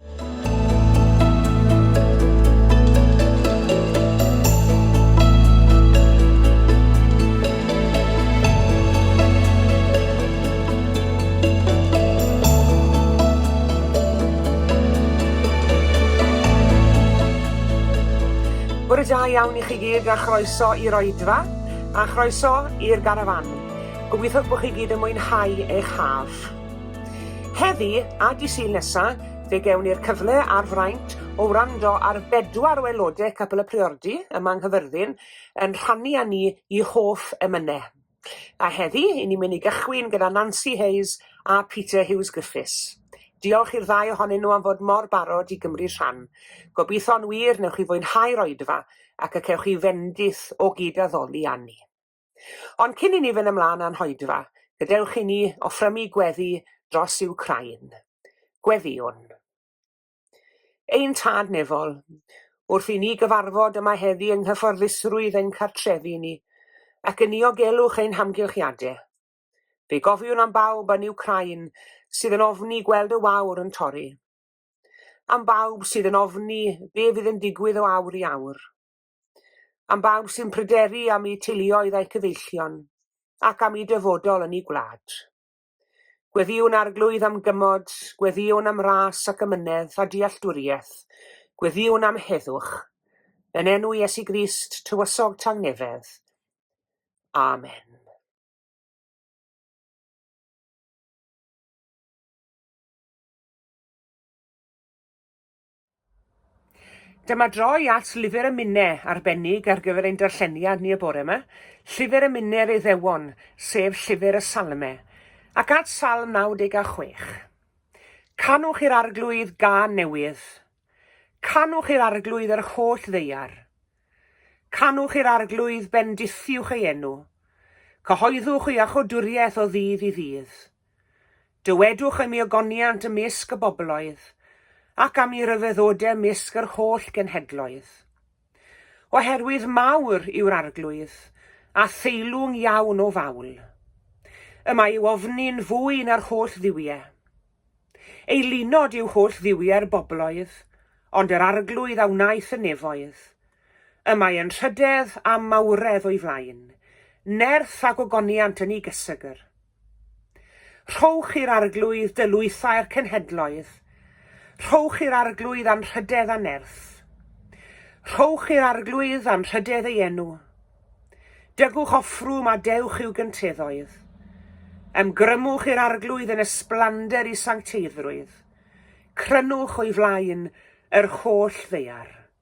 Bore da iawn i chi gyd a chroeso i'r oedfa a chroeso i'r garafan. Gobeithio bod chi gyd yn mwynhau eich haf. Heddi a dy' Sul nesa, fe gewn ni'r cyfle a'r fraint o wrando ar bedwar o aelodau Capel y Priordy yma yng Nghyfyrddin yn rhannu â ni i hoff emyne. A heddi, i ni'n mynd i gychwyn gyda Nancy Hayes a Peter Hughes Griffiths. Diolch i'r ddau ohonyn nhw am fod mor barod i gymryd rhan. Gobitho'n wir newch chi fwynhau'r oedfa ac y cewch chi fendith o gyd-addoli â ni. Ond cyn i ni fynd ymlaen â'n hoedfa, gadewch i ni offrymu gweddi dros Wcráin. Gweddïwn. Ein Tad Nefol, wrth i ni gyfarfod yma heddi yng nghyfforddusrwydd ein cartrefi ni, ac yn niogelwch ein hamgylchiadau, fe gofiwn am bawb yn Wcráin sydd yn ofni gweld y wawr yn torri, am bawb sydd yn ofni be fydd yn digwydd o awr i awr. am bawb sy'n pryderu am eu teuluoedd a'u cyfeillion, ac am eu dyfodol yn eu gwlad. Gweddïwn Arglwydd am gymod, gweddïwn am ras ac amynedd a dealltwriaeth, gweddïwn am heddwch. Yn enw Iesu Grist, tywysog tangnefedd. Amen. Dyma droi at lyfr y Minne arbennig ar gyfer ein darlleniad ni y bore yma, llyfr y Minne yr Iddewon, sef llyfr y Salme, ac at Salm 96. Canwch i'r Arglwydd gân newydd. Canwch i'r Arglwydd yr holl ddeiar. Canwch i'r Arglwydd, bendithiwch ei enw. Cyhoeddwch ei achodwriaeth o ddydd i ddydd. Dywedwch am ei ogoniant ymysg y bobloedd, ac am ei ryfeddode ymysg yr holl genhedloedd. Oherwydd mawr yw'r arglwydd, a theilwng iawn o fawl. Y mae ei ofni'n fwy na'r holl dduwie. Ei lunod yw holl dduwie'r bobloedd, ond yr arglwydd a wnaeth y nefoedd. Y mae yn rhydedd a mawredd o'i flaen, nerth ac ogoniant yn ei gysegr. Rhowch i'r Arglwydd dy lwythau'r cenhedloedd, rhowch i'r Arglwydd anrhydedd a nerth. Rhowch i'r Arglwydd anrhydedd ei enw. Dygwch offrwm a dewch i'w gynteddhoedd. Ymgrymwch i'r Arglwydd yn ysblander i sancteiddrwydd. Crynwch o'i flaen yr holl ddaear.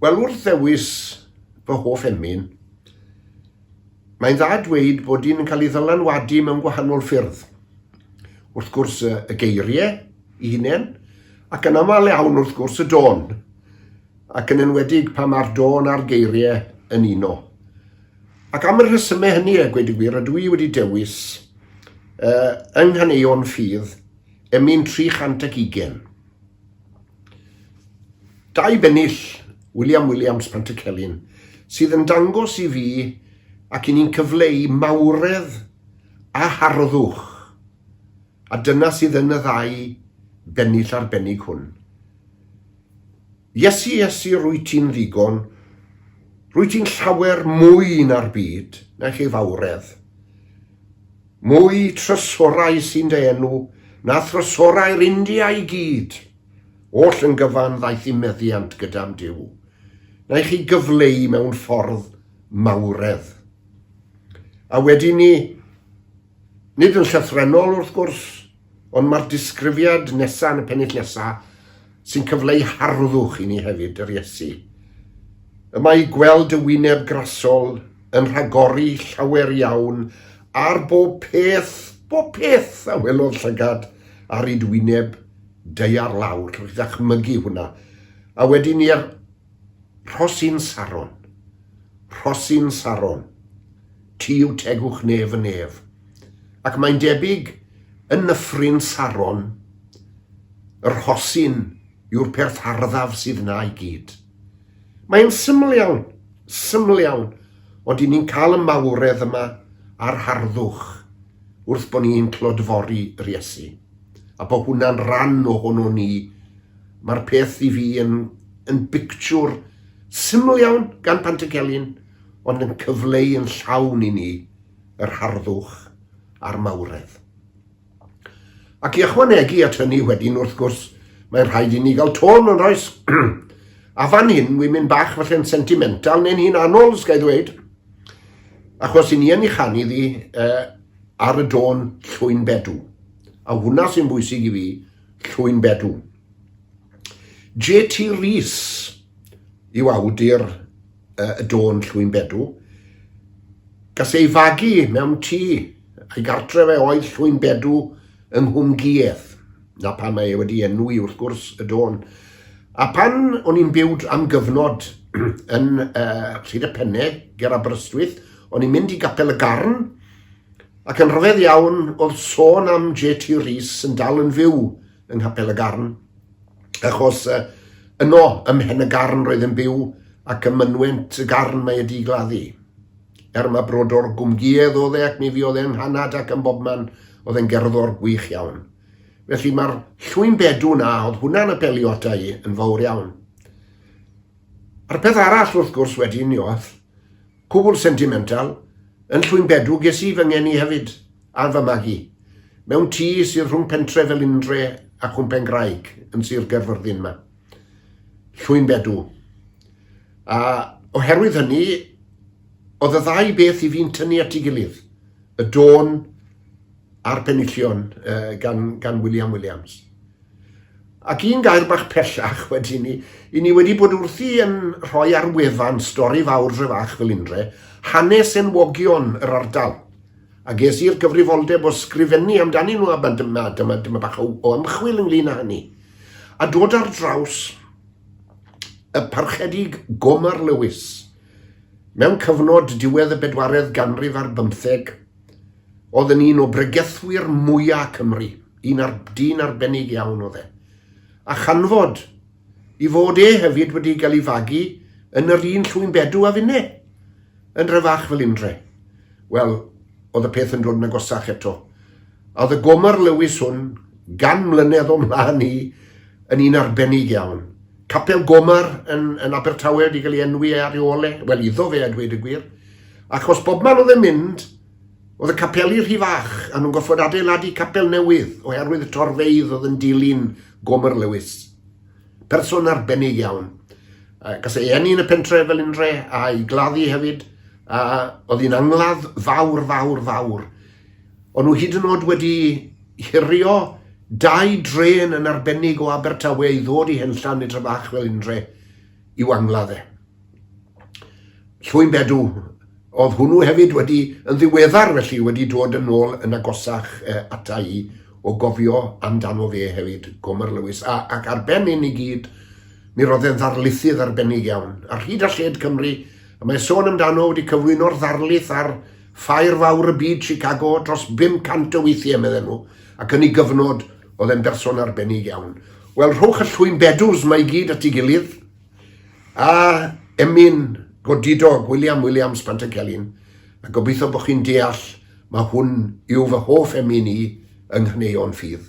Wel, wrth ddewis fy hoff emyn, mae'n dda dweud bod un yn cael ei ddylanwadu mewn gwahanol ffyrdd. Wrth gwrs y geiriau i hunain, ac yn aml iawn wrth gwrs y don. ac yn enwedig pan mae'r dôn a'r geiriau yn uno. Ac am y rhesymau hynny, a gweud y gwir, ydw i wedi dewis uh, yng Nghaneuon Ffydd, emyn 320. Dau bennill, William Williams Pantycelyn, sydd yn dangos i fi ac i ni'n cyfleu mawredd a harddwch. A dyna sydd yn y ddau bennill arbennig hwn. Iesu, Iesu, rwyt ti'n ddigon, rwyt ti'n llawer mwy na'r byd, naill ei fawredd. Mwy trysorau sy'n dy enw, na thrysorau'r India i gyd. Oll yn gyfan ddaeth i meddiant gyda'n Duw, naill ei gyfleu mewn ffordd mawredd. A wedyn ni, nid yn llythrennol wrth gwrs, Ond mae'r disgrifiad nesaf yn y pennill nesaf sy'n cyfleu harddwch i ni hefyd, yr Iesu. Y mae i gweld y wyneb grasol yn rhagori llawer iawn ar bob peth, bob peth a welodd llygad ar id wyneb deiar lawr, rydych mygu hwnna. A wedyn i'r Rhosyn Saron, Rhosyn Saron, ti yw tegwch nef y nef, ac mae'n debyg yn Nyffryn Saron, y rhosyn yw'r perth arddaf sydd 'na i gyd. Mae'n syml iawn, syml iawn, ond i ni'n cael y mawredd yma a'r harddwch wrth bo' ni'n clodfori yr Iesu, a bo' hwnna'n ran ohonon ni Mae'r peth i fi yn yn bictiwr syml iawn gan Pantycelyn, ond yn cyfleu yn llawn i ni yr harddwch a'r mawredd. Ac i ychwanegu at hynny wedyn, wrth gwrs, mae'n rhaid i ni gael tôn yn oes. a fan hyn, wi'n mynd bach falle'n sentimental neu'n hun anol, sgai ddweud, achos i ni yn ei chanu iddi uh, ar y dôn llwyn bedw. A hwnna sy'n bwysig i fi, Llwynbedw. JT Rees yw awdur uh, y dôn Llwynbedw. Gas ei fagu mewn tŷ a'i gartre fe oedd Llwynbedw yng Nghwmgïedd. Na pan mae e wedi enw i wrth gwrs y dôn. A pan o'n i'n byw am gyfnod yn uh, Rhyd y Penne, ger Aberystwyth, o'n i'n mynd i gapel y garn, Ac yn rhyfedd iawn, wrth sôn am JT Rees yn dal yn fyw yng Nghapel y Garn, achos uh, yno, ym Mhen y Garn roedd yn byw, ac ym mynwent y garn mae y digladdu. Er mae brodor gwmgïedd oedd e ac mi fiodd e'n hanad ac yn bobman, oedd e'n gerddor gwych iawn. Felly mae'r llwyn bedw na, oedd hwnna'n apelio ata i yn fawr iawn. A'r peth arall, wrth gwrs, wedyn, Ioth, Cwbl sentimental, yn Llwynbedw ges i fy ngeni hefyd, a fy magu, mewn tŷ sydd rhwng pentre Felindre a Chwmpengraig yn Sir Gaerfyrddin 'ma. Llwynbedw. A oherwydd hynny, oedd y ddau beth i fi'n tynnu at ei gilydd, y dôn a'r penillion gan, gan William Williams. Ac un gair bach pellach wedyn ni, i ni wedi bod wrthi yn rhoi ar wefan Stori Fawr Dre Fach Felindre hanes enwogion yr ardal, a ges i'r gyfrifoldeb o sgrifennu amdanyn nhw a dyma, dyma, dyma bach o, o ymchwil ynglyn â hynny. A dod ar draws y parchedig Gomer Lewis mewn cyfnod diwedd y bedwaredd ganrif ar bymtheg, oedd yn un o bregethwyr mwyaf Cymru. Dyn, ar, dyn arbennig iawn oedd e. A chanfod i fod e hefyd wedi cael ei fagu yn yr un llwyn bedw a finne, yn rhe fach fel undre. Wel, oedd y peth yn dod yn agosach eto. A oedd y gomar Lewis hwn, gan mlynedd o mlaen i, yn un arbennig iawn. Capel Gomar yn, yn Abertawe wedi cael ei enwi e ar ei ôl e, wel iddo fe a dweud y gwir, achos bobman oedd e'n mynd, Oedd y capeli rhy fach a nhw'n gorfod adeiladu capel newydd oherwydd y torfeydd oedd yn dilyn Gomer Lewis. Person arbennig iawn. Gas ei eni yn y pentre fel unre a'i gladdu hefyd. A oedd hi'n angladd fawr, fawr, fawr. O'n nhw hyd yn oed wedi hirio dau dren yn arbennig o Abertawe i ddod i Henllan i Trefach fel unre i'w angladd e. Llwyn Bedw. Oedd hwnnw hefyd wedi, yn ddiweddar felly, wedi dod yn ôl yn agosach uh, ata i o gofio amdano fe hefyd, Gomer Lewis. A, ac ar ben hyn i gyd, mi roedd e'n ddarlithydd arbennig iawn. Ar hyd a lled Cymru, a mae sôn amdano wedi cyflwyno'r ddarlith ar ffair fawr y byd Chicago dros 500 o weithiau, medden nhw, ac yn ei gyfnod, oedd e'n berson arbennig iawn. Wel, rhowch y llwyn bedws mae i gyd at ei gilydd, A emyn godidog William Williams Pantycelyn, a gobeithio bod chi'n deall mae hwn yw fy hoff emyn i yng nghaneuon ffydd.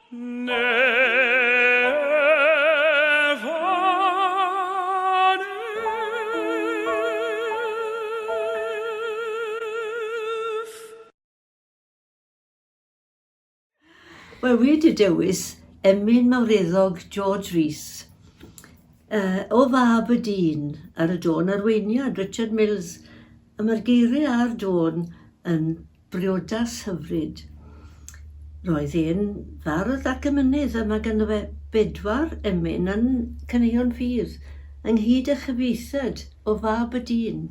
Wel, wedi dewis emyn mawreddog George Rees uh, o fab y dyn ar y dôn arweiniad Richard Mills a mae'r geiriau ar dôn yn Briodas hyfryd. Roedd e'n fardd ac emynydd a mae ganddo fe bedwar emyn yn Caneuon Ffydd, ynghyd â chyfieithiad o Fab y Dyn,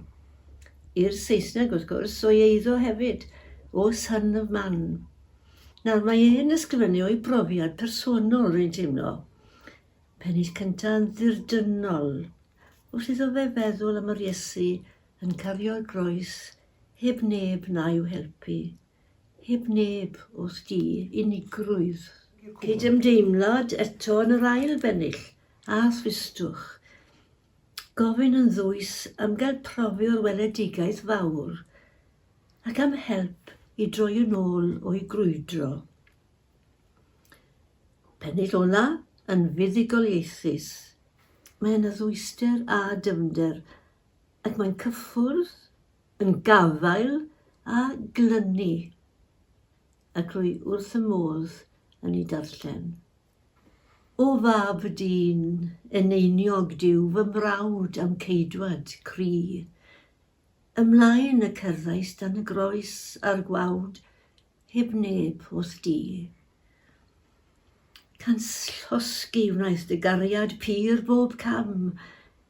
i'r Saesneg wrth gwrs, o'i eiddo hefyd, o Son of Man. Nawr, mae e'n ysgrifennu o'i brofiad personol, rwy'n teimlo. Pennill cynta yn ddirdynnol. Wrth iddo fe feddwl am yr Iesu yn cario'r groes heb neb na'u helpu, heb neb wrth du, unigrwydd. Cydymdeimlad eto yn yr ail bennill, a thristwch. Gofyn yn ddwys am gael profio'r weledigaeth fawr, ac am help i droi yn ôl o'i grwydro. Pennill ola yn fuddugoliaethus. Mae yna ddwyster a dyfnder ac mae'n cyffwrdd yn gafael â glynu ac rwy wrth y modd yn ei darllen. O fab dyn eneiniog dyw fy mrawd a'm ceidwad cri. Ymlaen y cerddais dan y groes a'r gwawd heb neb wrth di. Canslosgi wnaeth dy gariad pur bob cam,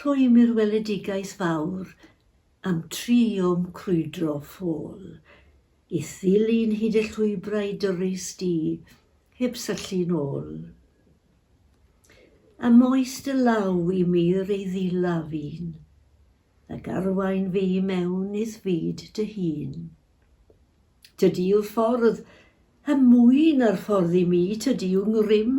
Rhwymir weledigaeth fawr am dri o'm crwydro ffôl i ddilyn hyd y llwybrau dyrys di heb syllu'n ôl. A moes dy law i mir ei ddilaf un, ac arwain fi i mewn i'th fyd dy hun. Tydi yw'r ffordd, a mwy na'r ffordd i mi, tydi yw ngrym,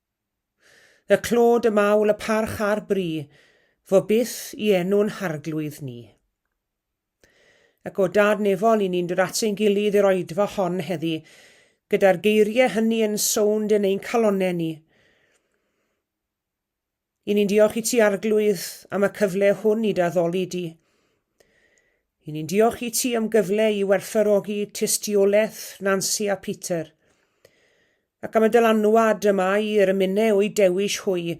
Y clod, y mawl, y parch a'r bri, fo byth i enw'n harglwydd ni. Ac o dad nefol i ni'n dod at ein gilydd i'r oedfa hon heddi, gyda'r geiriau hynny yn sownd yn ein calonnau ni. I ni'n diolch i ti, Arglwydd, am y cyfle hwn i daddoli di. I ni'n diolch i ti am gyfle i werthfarogi tystiolaeth Nancy a Peter, ac am y dylanwad y mae yr ymunau o'i dewis hwy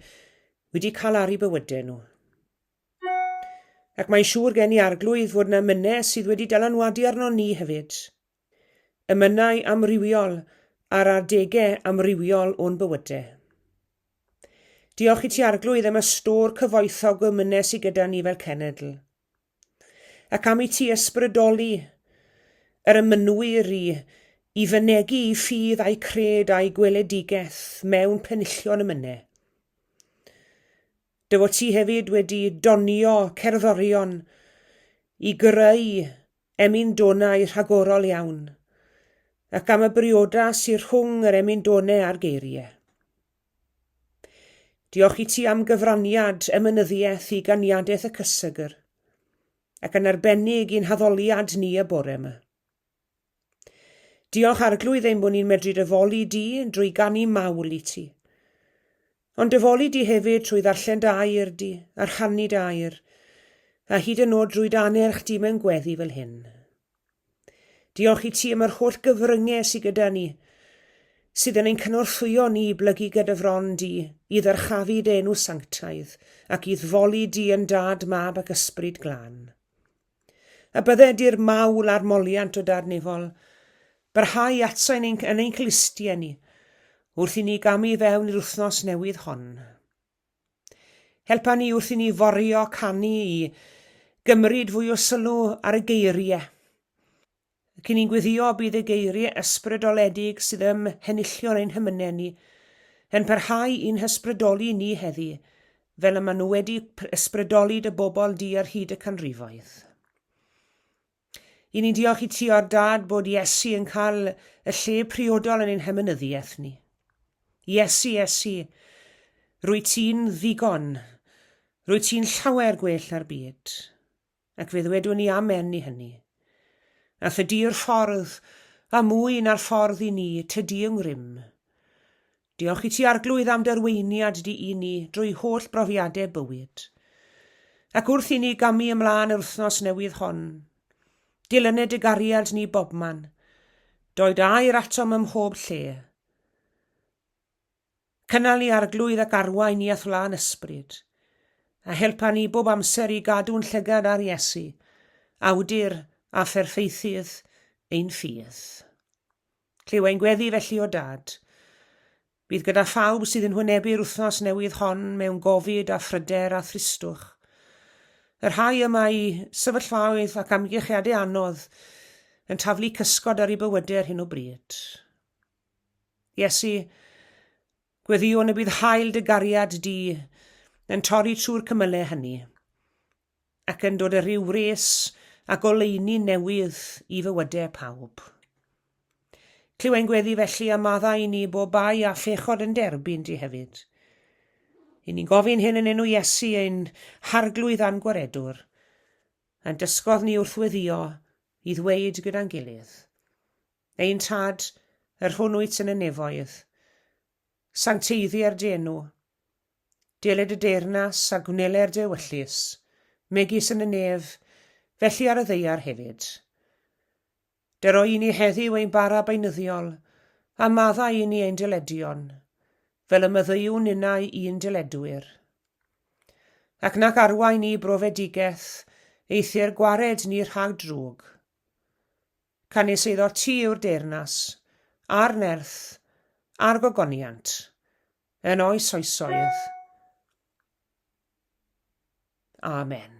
wedi cael ar ei bywydau nhw. Ac mae'n siŵr gen i arglwydd fod yna mynau sydd wedi dylanwadu arno ni hefyd. Emynau amrywiol ar adegau amrywiol o'n bywydau. Diolch i ti Arglwydd am y stôr cyfoethog o emynau sydd gyda ni fel cenedl. Ac am i ti ysbrydoli yr emynwyr i i fynegu i ffydd a'i cred a'i gweledigaeth mewn penillion y mynau. Dywot ti hefyd wedi donio cerddorion i gyrrau emyn-donau rhagorol iawn, ac am y briodas sy'r rhwng yr emyn-done a'r geirie. Diolch i ti am gyfraniad emynyddiaeth i ganiadaeth y cysegr, ac yn arbennig i'n haddoliad ni y bore yma. Diolch Arglwydd ein bod ni'n medru dyfoli di drwy ganu mawl i ti. Ond dyfoli di hefyd trwy ddarllen dy air di, a rhannu dy air, a hyd yn oed drwy dy anerch di mewn gweddi fel hyn. Diolch i ti am yr holl gyfryngau sydd gyda ni, sydd yn ein cynorthwyo ni i blygu gyda fron di, i ddyrchafu dy enw sanctaidd, ac i ddfoli di yn dad, mab ac ysbryd glân. A bydde di'r mawl a'r moliant o darnifol barhau atsa yn ein, yn ein clustie ni, wrth i ni gamu i fewn i'r wythnos newydd hon. Helpa ni wrth i ni forio canu i gymryd fwy o sylw ar y geiriau. ac i ni'n gweddio y bydd y geiriau ysbrydoledig sydd ym mhenillion ein hymynedd ni yn parhau i'n hysbrydoli ni heddi, fel y maen nhw wedi ysbrydoli dy bobl di ar hyd y canrifoedd. I ni'n diolch i ti o'r dad bod Iesu yn cael y lle priodol yn ein hymynyddiaeth ni. Iesu, Iesu, rwy ti'n ddigon, rwy ti'n llawer gwell na'r byd. ac fe ddwedwn ni amen i hynny. A thydy'r ffordd, a mwy na'r ffordd i ni, tydy yng ngrym. Diolch i ti Arglwydd am dy arweiniad di i ni drwy holl brofiadau bywyd. Ac wrth i ni gamu ymlaen yr wythnos newydd hon, dilynu dy gariad ni bobman, doi dy air atom ym mhob lle. Cynnal i arglwydd ac arwain ni at wlân ysbryd, a helpa ni bob amser i gadw'n llygad ar Iesu, awdur a pherffeithydd ein ffydd. Clyw ein gweddi felly o Dad. Bydd gyda phawb sydd yn hwynebu'r wythnos newydd hon mewn gofid a phryder a thristwch. Y rhai y mae sefyllfaoedd ac amgylchiadau anodd yn taflu cysgod ar eu bywydau ar hyn o bryd. Iesu, gweddiwn y bydd hael dy gariad di yn torri trwy'r cymylau hynny, ac yn dod y rhyw wres a goleuni newydd i fywydau pawb. Clywai'n gweddi felly a maddau i ni bob bai a phechod yn derbyn di hefyd. I ni'n gofyn hyn yn enw Iesu ein harglwydd a'n gwaredwr, a'n dysgodd ni wrth weddio i ddweud gyda'n gilydd. Ein Tad, yr hwn wyt yn y nefoedd, sancteiddi ar dy enw. Dele dy deyrnas a gwneler dy ewyllys, megis yn y nef, felly ar y ddeiar hefyd. Dy roi i ni heddiw ein bara beunyddiol, a maddau i ni ein dyledion, fel y myddeiwn ninnau i'n dyledwyr. Ac nac arwain ni brofedigaeth, eithr gwared ni rhag drwg. Canys iddo ti yw'r deyrnas, a'r nerth, a'r gogoniant, yn oes oesoedd. Amen.